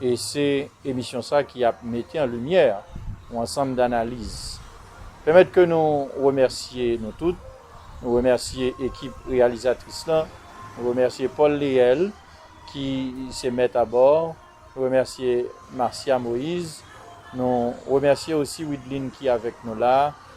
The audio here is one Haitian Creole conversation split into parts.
E se emisyon sa ki ap mete an limyè yon ansanm danaliz. Pèmèt ke nou remèsye nou tout, nou remèsye ekip reyalizatris lan, nou remèsye Paul Léel ki se mèt a bò, nou remèsye Marcia Moïse, nou remèsye osi Wideline ki avèk nou la,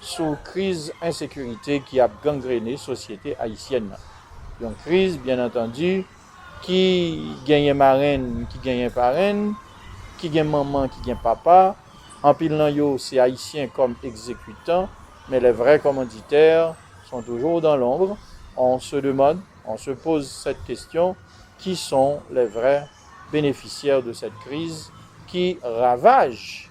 sou kriz ensekirite ki ap gangrene sosyete ayisyèn nan. Yon kriz, byen antandi, ki genyen marenn, ki genyen parenn, ki gen manman, ki gen papa, anpil nan yo se ayisyen kòm ekzekitan, men les vrais commanditaires sont toujours dans l'ombre, on se demande, on se pose cette question, qui sont les vrais bénéficiaires de cette crise qui ravage?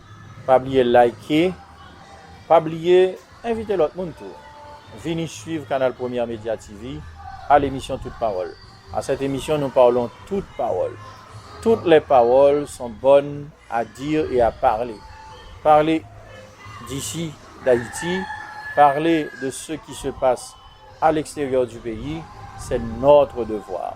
Pa bliye like, pa bliye envite lòt moun tou vini swiv kanal Première Media TV al emisyon Tout Pawòl. A cette émission nous parlons toutes paroles. Toutes les paroles sont bonnes à dire et à parler. Parler d'ici, d'Haïti, parler de ce qui se passe à l'extérieur du pays, c'est notre devoir.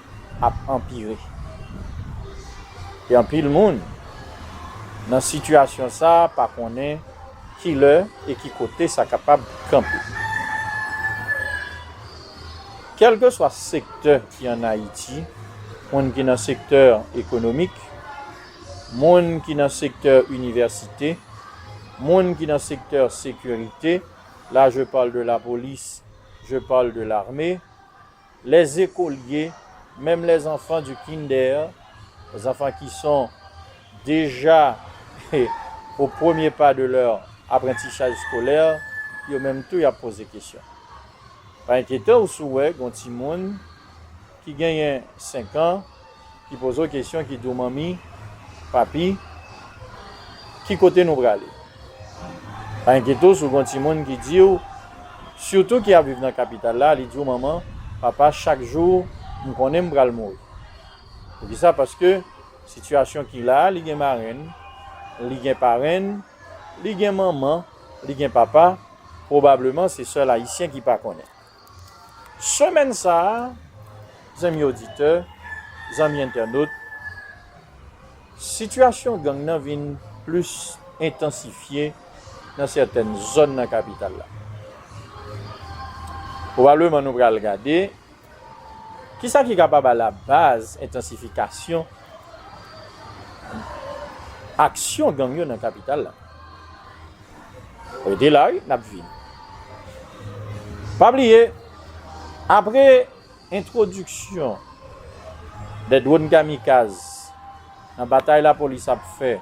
ap anpire. Gen anpil moun nan sitiyasyon sa a pa konnen ki lè e ki kote sa kapab kanpe. Kèlkeswa sektè ki an Ayiti, moun ki nan sektè ekonomik, moun ki nan sektè inivèsite, moun ki nan sektè sekirite, la je parle de la police, je parle de l'armée, Les ekolye, menm les enfants du kinder, zanfan ki son deja au premier pas de leur apprentissage scolaire, yo menm tou y ap poze kesyon. Pa enkyete w si w wè gon timoun ki genyen 5 an, Ki poze w kesyon, ki di w manmi, papi, ki kote nou prale? Pa enkyete w si w gen yon timoun ki di w, sitou ki ap viv nan kapital la, li di w manman, papa chak jou m konnen m pral mouri. Poukisa? Paske sitiyasyon ki la a li gen marenn, li gen parenn, li gen manman, li gen papa, pwobableman se sèl ayisyen ki pa konnen. Semèn sa a, zanmi oditè, zanmi entènot, sitiyasyon gang nan vin plis entansifye nan sètèn zòn nan kapital la. Pwobableman nou pral gade, ki sa ki kapab alabaz entansifikasyon aksyon gang yo nan kapital la? Rete la wi, nap vini. Pa bliye, apre entwodiksyon de dwòn kamikaz nan batay lapolis ap fè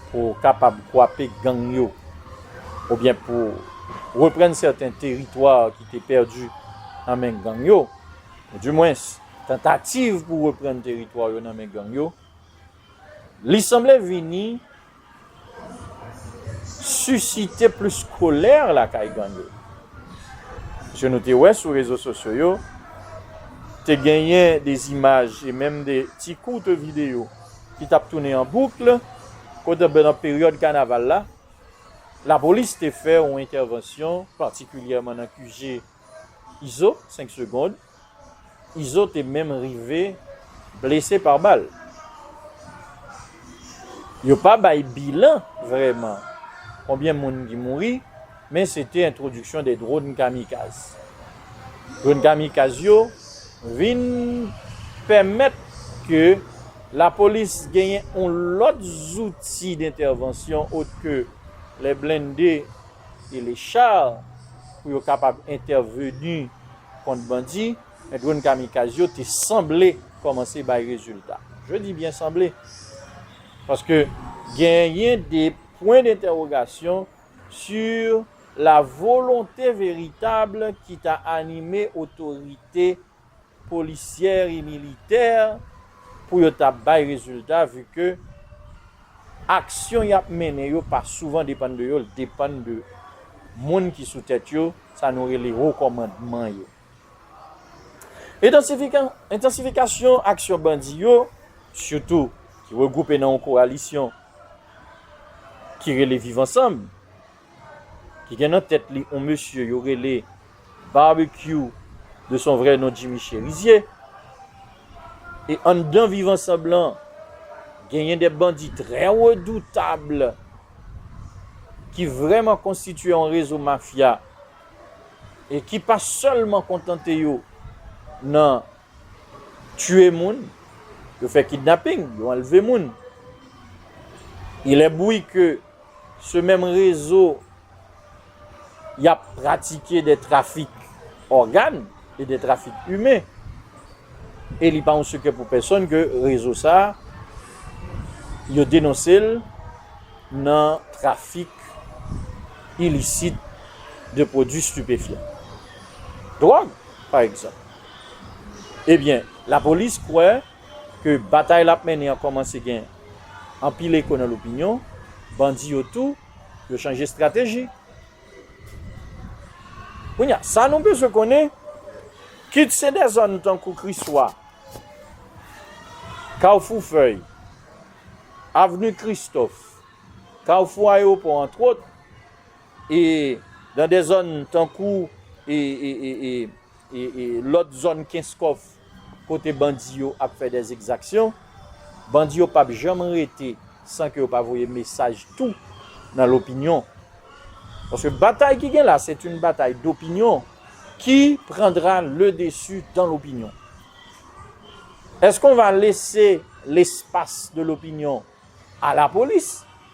pou kapab kwape gang yo oubyen pou reprann sèten teritwa ki te pèdi nan men gang yo, ou di mwens tantativ pou reprann teritwa yo nan men gang yo, li sanble vini susite plis kolè lakay gang yo. Paske nou te wè sou rezo sosyo yo, te genyen de zimaj e menm de ti courte video ki tap tounen an boucle, kote nan peryòd kanaval la, lapolis te fè yon entèvansyon patikilyèman nan QG Izo, 5 secondes, Izo te menm rive blese pa bal. Yo pa bay bilan vrèman konbyen moun ki mouri, men se te entwodiksyon de dron kamikaz. Dron kamikaz yo vin pèmèt ke lapolis genyen yon lòt zouti dentèvansyon ot ke lè blende e le char pou yo kapab entèveni kont bandi, men dronn kamikaz yo te sanble kòmanse bay rezilta. Je di byen sanble, paske genyen de pwen dentèwogasyon si la volonte veritab ki ta anime otorite polisyè e militè pou yo ta bay rezilta vi ke aksyon y ap mennen yo pa souvan depann de yo, l depann de moun ki sou tèt yo, Sa nou rele Ho Kòmandman yo. Entansifikasyon aksyon bandi yo, sitou ki regwoupe nan yon koalisyon ki rele Viv Ansanm, ki gen nan tèt li yon mesye yo rele Barbecue de son vrè non Jimmy Cherizier, e anndan Viv Ansanm lan, genyen de bandi trè redoutab, ki vrèman konstitye yon rezo mafya e ki pa sèlman kontante yo nan tue moun, yo fè kidnapping, yo anleve moun. Ilè bouy ke se menm rezo y ap pratike de trafik ògàn e de trafik imen. E li pa yon sekrè pou pèsòn ke rezo sa a, yo denonse l nan trafik ilisit de pwodui stipefyan. Dwòg, pa egzanp. Ebyen, lapolis kwè ke batay l ap mennen an kòmanse gen anpil eko nan lopinyon, bandi yo tou, Yo chanje estrateji. Kounye a, sa nou bezwen konnen, kit se de zòn tankou Kriswa, Kafou Fèy, Avni Kristòf, Kafou Ayewopò antwot, e nan de zòn tankou e, e, e, e. Lòt zòn kenskof kote bandi yo ap fè dè ekzaksyon, bandi yo pap janm rete san ke yo pa voye mesaj tou nan lopinyon. Paske batay ki gen la, c'est une bataille d'opinion, ki prendra le dessus dans l'opinion. Est-ce qu'on va laisser l'espace de l'opinion à la police?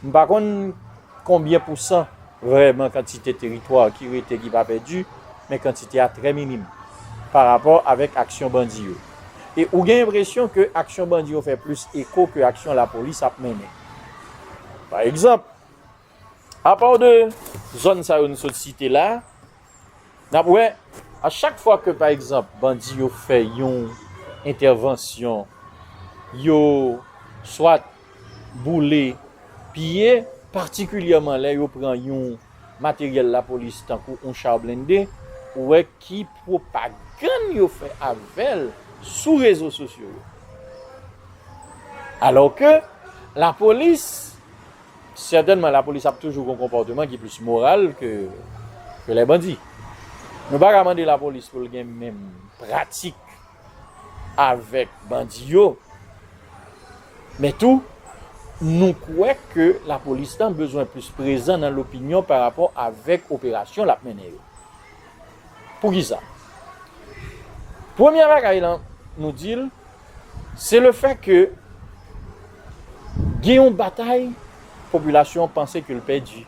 M pa konn konbyen pousan vrèman kantite teritwa ki rete ki pa pèdi, men kantite a trè minim pa rapò avèk aksyon bandi yo. E ou gen enpresyon ke aksyon bandi yo fè plis eko ke aksyon lapolis ap mennen. Pa egzanp, apaw de zòn sa yo nou sot site la, Nap wè a chak fwa ke pa egzanp bandi yo fè yon entèvansyon yo swat boule, piye patikilyèman lè yo pran yon materyèl lapolis tankou yon cha blende ou wè ki pwopagann yo fè avèl sou rezo sosyo yo. Alò ke lapolis Sètènman lapolis ap toujou gon konpòteman ki plis moral ke lè bandi. Nou pa ka mande lapolis pou l gen menm pratik avèk bandi yo, men tou nou kwè ke lapolis lan bezwen plis prezan nan lopinyon pa rapò avèk operasyon l ap mennen yo. Poukisa? Premye bagay lan nou di l. Se le fè ke gen yon batay popilasyon an panse ke l pèdi.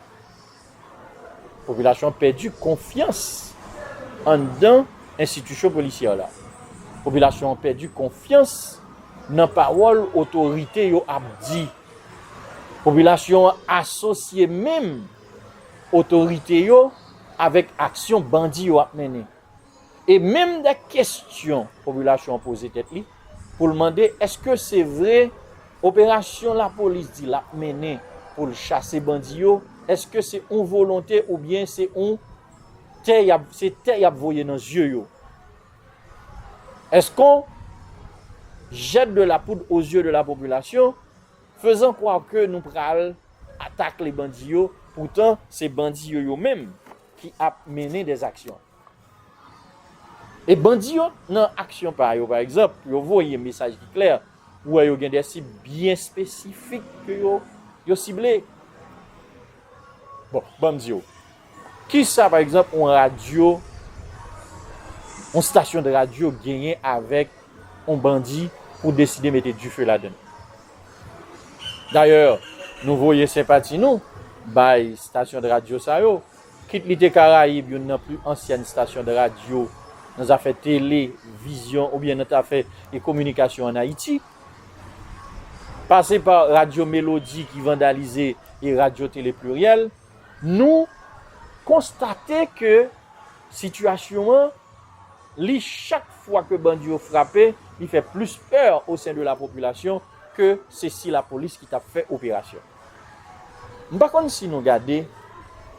Popilasyon an pèdi konfyans anndan enstitisyon polisyè la. Popilasyon an pèdi konfyans nan pawòl otorite yo ap di. Popilasyon an asosye menm otorite yo avèk aksyon bandi yo ap mennen. E menm de kestyon popilasyon an poze tèt li pou l mande eske se vre operasyon lapolis di l ap mennen pou l chase bandi yo, eske se yon volonte oubyen se yon tè y ap, se tè y ap voye nan zye yo? Eske on jette de la poudre aux yeux de la population faisant croire que nou pral atakle bandi yo poutan se bandi yo yo menm ki ap mennen des aksyon. E bandi yo nan aksyon pa yo pa egzanp, yo voye mesaj ki klè, ou wè yo gen des sib byen espesifik ke yo yo sible. Bon, banm di w, kisa pa egzanp yon radyo, yon stasyon de radyo genyen avèk yon bandi pou deside mete dife ladan l? Dayè, nou voye senpati nou bay stasyondradio sa yo, kit li te Karayib youn nan pli ansyèn stasyondradio nan zafè tele vizyon oubyen nan tafè e kominikasyon ann Ayiti, pase pa Radyo Melodi ki vandalize e Radyo Tele Pliryèl, nou konstate ke sitiyasyon an. li chak fwa ke bandi yo frape li fè plis peur o sen de la popilasyon ke se si la polis ki tap fè operasyon. M pa konn si nou gade,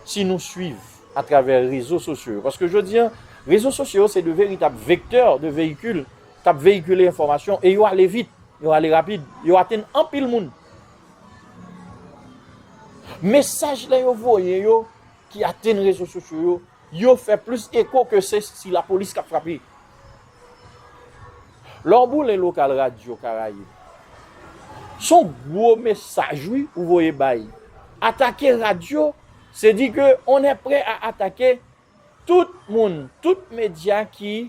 si nou swiv a travè rezo sosyo yo, paske jodi an rezo sosyo yo se de veritab vektè de veyikil kap veyikile enfòmasyon e yo ale vit, yo ale rapid, yo atenn anpil moun. Mesaj lè yo voye yo ki atenn rezo sosyo yo Yo fè plis eko ke se si lapolis k ap frape. Lè w boule lokal radyo Karayib, s on gwo mesaj wi ou voye bay. Atake radyo, se di ke on è prè a atake tout moun, tout medya ki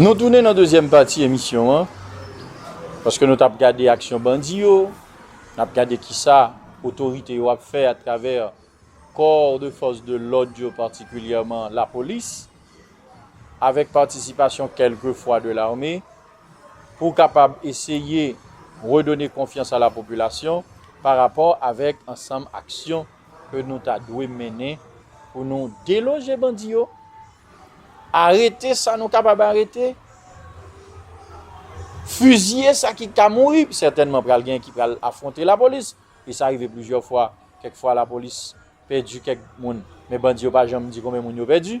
Nou tounen nan dezyèm pati emisyon an, paske nou tap gade aksyon bandi yo, nap gade kisa otorite yo ap fè atravè kò de fòs de lòd yo patikilyèman lapolis avèk patisipasyon kèlke fwa de lame. pou kapab eseye redone konfyans a la popilasyon pa rapò avèk ansanm aksyon ke nou ta dwe mennen pou nou deloje bandi yo, arete sa nou kapab arete, fiziye sa ki ka mouri, sètènman pral gen ki pral afwonte la polis, e sa rive plizyè fwa, kèk fwa la polis pèdi kèk moun, men bandi yo pa janm di konbyen moun yo pèdi.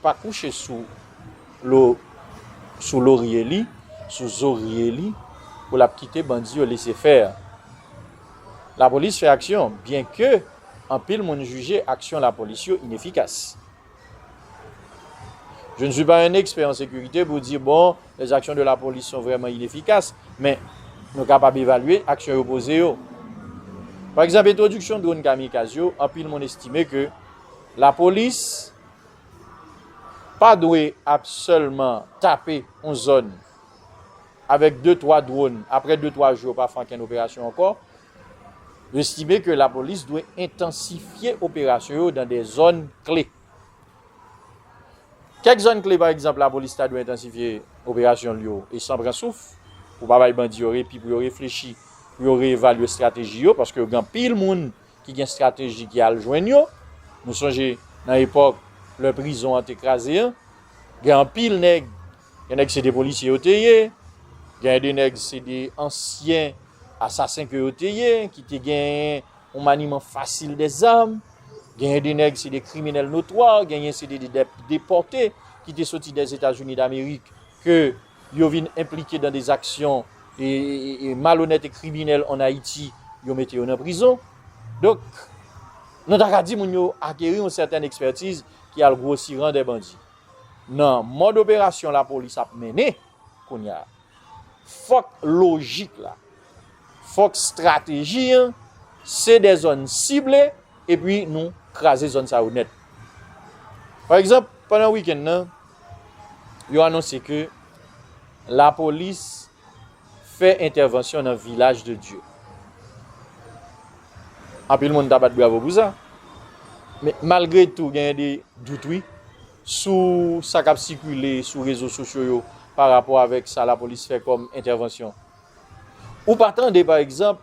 Pa kouche sou lo sou lorye li, sou zorye li pou lap kite bandi yo lese faire. Lapolis fè aksyon byen ke anpil moun jije aksyon lapolis yo inefikas. Je ne suis pas un expert en sécurité pou di bon les actions de la police sont vraiment inefficaces men nou kapab evalye aksyon yo poze yo. Pa egzanp entwodiksyon dronn kamikaz yo anpil moun estime ke lapolis Pa dwe ap sèlman tape yon zòn avèk de twa dwòn, aprè de twa jou yo pa fè ankenn operasyon ankò. Nou estime ke lapolis dwe entansifye operasyon yo nan de zòn kle. Kèk zòn kle pa egzanp lapolis ta dwe entansifye operasyon l yo e san pran souf pou pa bay bandi yo repi pou yo reflechi, pou yo reevalye estrateji yo paske yo gen anpil moun ki gen strateji ki al jwenn yo. Nou sonje nan epòk lè prizon an te kraze an, gen anpil nèg, gen nèg se de polisye yo te ye, gen de nèg se de ansyen asasen ke yo te ye, ki te genyen yon maniman fasil de zam, genyen de nèg se de kriminèl notwa, genyen se de depòte ki te soti dèzetazini damerik ke yo. yo vin enplike dan des aksyon malonèt e kriminèl an Ayiti, yo mete yo nan prizon. Donk, nou ta ka di moun yo akeri yon sètèn ekspètiz ki al gwosi ran dè bandi. Nan mòd operasyon lapolis ap mennen kounye a, fòk lojik la, fòk strateji an, se dè zòn sible epi nou kraze zòn sa yo nèt. Pa egzanp, pandan wikenn nan, yo anonse ke lapolis fè entèvansyon nan Vilaj de Dye. Anpil moun ta bat bravo pou sa. Men malgre tou genyen de dout wi sou sa kap sikile sou rezo sosyo yo pa rapò avèk sa lapolis fè kòm entèvansyon. Ou pa tande pa egzanp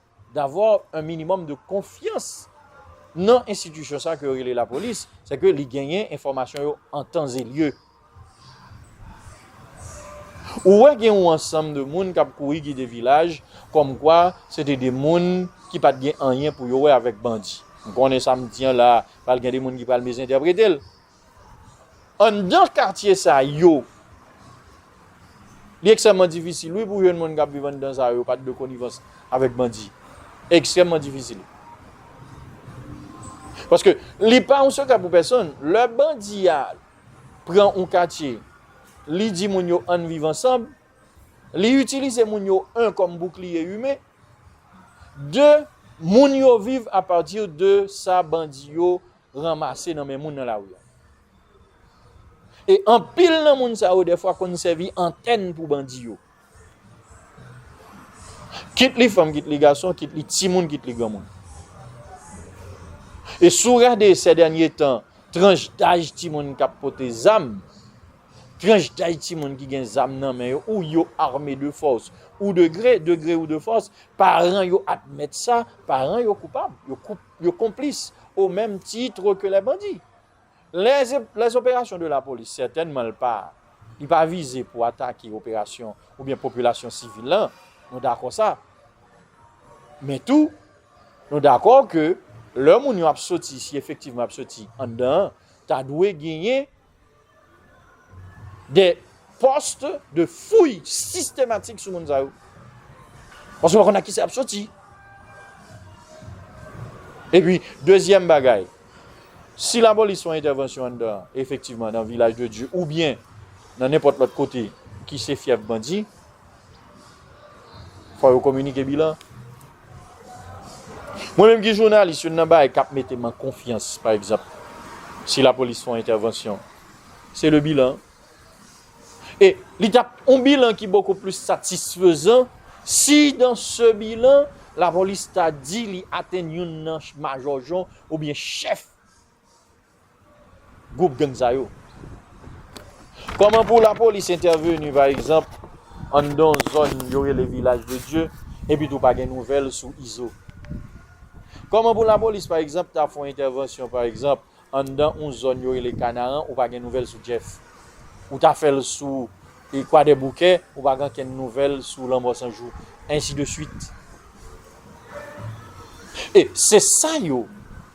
d'avoir un minimum de confiance nan institution sa ke yo rele la police, c'est que li genyen enfomasyon yo en temps et lieu. Ou wè gen yon ansanm de moun kap kouri gide vilaj kom kwa se te de moun ki pat gen anyen pou yo wè avèk bandi. M konnen sa m di an la pral gen de moun ki pral misinterprete l. Anndan katye sa yo, li ekstrèmman difisil wi pou jèn moun k ap viv anndan sa yo pa t de konivans avèk bandi. Ekstrèmman difisil. Paske li pa yon sekrè pou pèsonn, lè bandi a pran yon katye, li di moun yo ann viv ansanm, li itilize moun yo an kòm boukliye imen, de moun yo viv apati de sa bandi yo ranmase nan men moun nan lari an. E anpil nan moun sa yo defwa konn sèvi antèn pou bandi yo. Kit li fanm, kit li gason, kit li ti moun, kit li gran moun. E sou rade se dènye tan, tranj daj ti moun kap pote zam, tranj daj ti moun ki gen zam nan men yo, ou yo arme de fòs, ou de gre, de gre ou de fòs, paran yo admèt sa, paran yo koupab, yo koup. yo konplis o menm titre ke lè bandi. Lè operasyon de la polis sètènman l pa, li pa vize pou atake operasyon ou byen popilasyon sivil lan, nou dakò sa. Men tou, nou dakò ke lè moun yo ap soti, si efektivman ap soti anndan an, ta dwe genyen, de post de fouy sistematik sou moun sa yo. Paske yo konn a ki sa ap soti. E pi, dezyèm bagay, si la polis fè entèvansyon an dan, efektivman, nan vilaj de Diyo, ou byen, nan nenpòt lòt kote, ki se fyèf bandi, Fò yo kominike bilan. Mwen menm ki jounalis, youn nan bagay k ap mete m an konfyans, pa egzanp, si lapolis fè yon entèvansyon, se le bilan. E li t ap yon bilan ki bokou plis satisfezan si dan se bilan lapolis ta di li atenn youn nan majò jon oubyen chèf gwoup gang sa yo. Kòman pou lapolis entèveni pa egzanp anndan yon zòn yo rele Vilaj de Dye epi tou pa gen nouvèl sou Izo? Kòman pou lapolis pa egzanp ta fè yon entèvansyon pa egzanp anndan yon zòn yo rele Kanaran ou pa gen nouvèl sou Jeff? Ou ta fè l sou Kwadèboukè ou pa gen ankenn nouvèl sou Lanmò San Jou? Ensi de swit. E se sa yo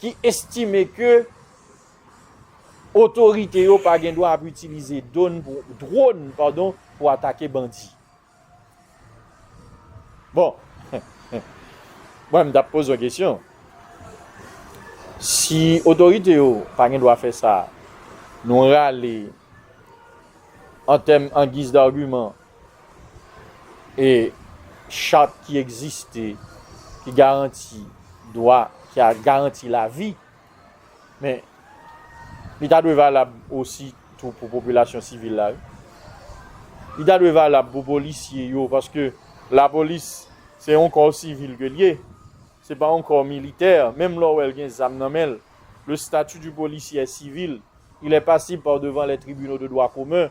ki estime ke otorite yo pa gen dwa ap itilize dron pou atake bandi. Bon, mwen m tap poze yon kesyon, si otorite yo pa gen dwa fè sa, nou rale an tèm an giz dagiman E chat ki egziste, ki garanti dwa, ki a garanti lavi, men, li ta dwe valab osi tou pou popilasyon sivil la. Li ta dwe valab pou polisye yo, paske la polis, se yon kò sivil ke li ye, se pa yon kò militè, menm lè w wè l gen zam nan men l, le stati di polisye è sivil, il è pasib pa devan lè tribino de dwa komen,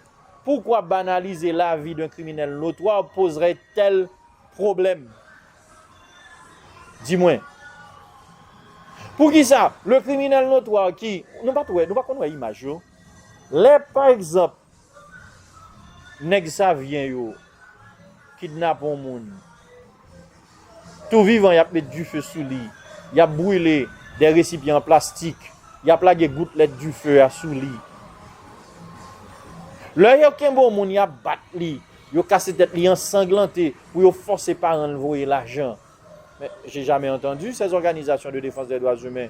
Poukwa banalize lavi d'un kriminèl notwa pozrè tèl pwoblèm? Di mwen. Poukisa le kriminèl notwa ki, nou pa t wè, nou pa konn wè imaj yo? Lè pa egzanp nèg savyen yo kidnape yon moun. Tou vivan y ap met dife sou li, y ap brile de resipyan an plastik, y ap lage goutlèt dife a sou li. Lè yo kenbe yon moun y ap bat li, yo kase tèt li ansanglante pou yo fòse paran l voye lajan. Men, j'ai jamais entendu ces organisations de défense des droits humains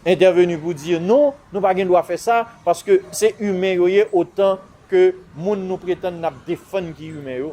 intervenir pou di non, nou pa gen dwa fè sa, paske se imen yo ye otan ke moun nou pretann n ap defann ki imen yo.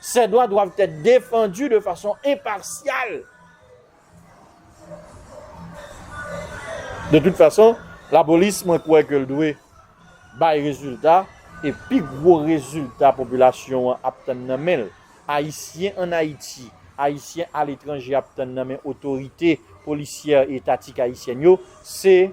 Ces droits doivent être défendus de façon impartiale. De toute façon, la police, mwen kwè ke l dwe bay rezilta, e pi gwo rezilta popilasyon an ap tann nan men l, Ayisyen an Ayiti, Ayisyen aletranje ap tann nan men otorite polisyè etatik ayisyèn yo, se.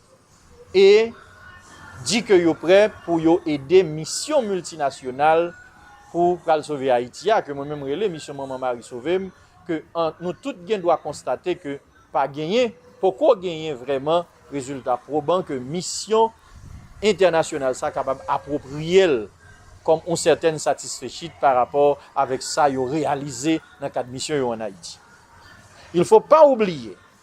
e di ke yo prè pou yo ede misyon miltinasyonal pou pral sove Ayiti a, ke mwen menm rele Misyon Manman Mari Sove m, ke nou tout gen dwa konstate ke pa genyen, poko genyen vrèman rezilta pwoban ke misyon entènasyonal sa kapab apwopriye l kòm yon sètèn satisfechit pa rapò avèk sa yo reyalize nan kad misyon yo an Ayiti. Il fo pa oubliye.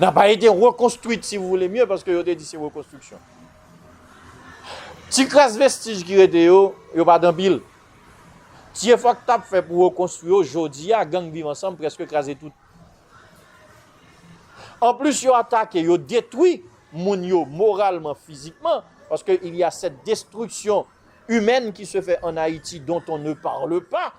Nan pa ete rekonstwit si vou vle mye, paske yo te di se rekonstriksyon. Ti kras vestij ki rete yo, yo pa dan pil. Ti efò k tap fè pou rekonstwi yo, jodi a gang viv ansanm preske kraze tout. An plis yo atake, yo detwi moun yo moralman, fizikman, paske il y a sèt destriksyon imèn ki se fè an Ayiti dont on ne parle pa.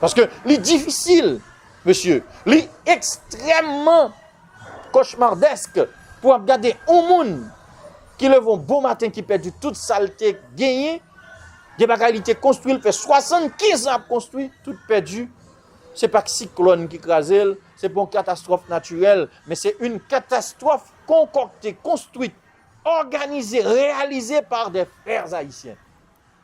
Paske li difisil, mesye, li ekstrèmman kochmardèsk pou ap gade yon moun ki leve yon bon maten ki pèdi tout sa l te genyen, gen bagay li te konstwi, l fè 75 an ap konstwi, tout pèdi, se pa k siklòn ki kraze l, se pa yon katastwòf natirèl, men se yon katastwòf konkòkte, konstwi, òganize, reyalize par dè frè ayisyen.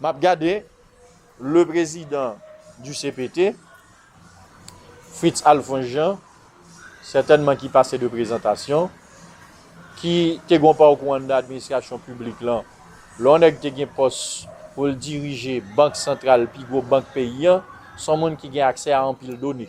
Map gade le prezidan du cpt Fritz Alphonse Jean sètènman ki pase de prezantasyon ki te gon pawkou anndan administrasyon piblik lan lè yon nèg te gen pòs poul dirije bank santral pi gwo bank peyi an son moun ki gen aksè a anpil done.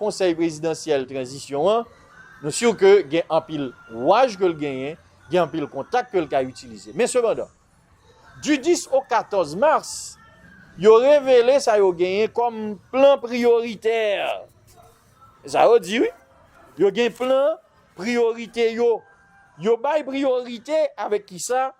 Konsèy prezidansyèl tranzisyon an, nou sur ke gen anpil waj ke l genyen, gen anpil kontak ke l ka itilize. Men sepandan, du 10 au 14 mars, yo revele sa yo genyen kòm plan priyoritè. Se sa yo di wi. Yo gen plan priyorite yo. Yo bay priyorite avèk kisa?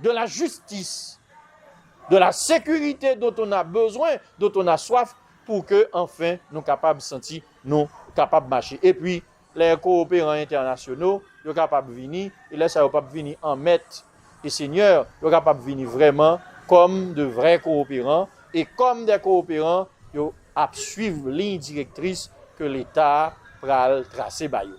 De la jistis, de la sekirite dont on a bezwen, dont on a swaf pou ke anfen nou kapab santi nou kapab mache. E pi, lè kowoperan entènasyono yo kapab vini, e lè sa yo pap vini an mèt e senyè, yo kapab vini vrèman kòm de vrè kowoperan e kòm dè kowoperan yo ap swiv liy direktris ke Leta pral trase ba yo.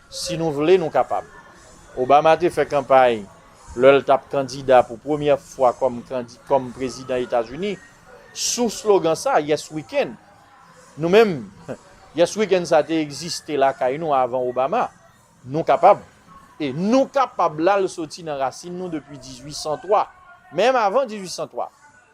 Si nou vle nou kapab. Obama te fè kanpay lè l t ap kandida pou premyè fwa kòm kandi kòm prezidan Etazini sou slogan sa, Yes We Can. Nou menm, Yes We Can sa te egziste lakay nou avan Obama. Nou kapab. E Nou kapab la l soti nan rasin nou depi 1803, menm avan 1803.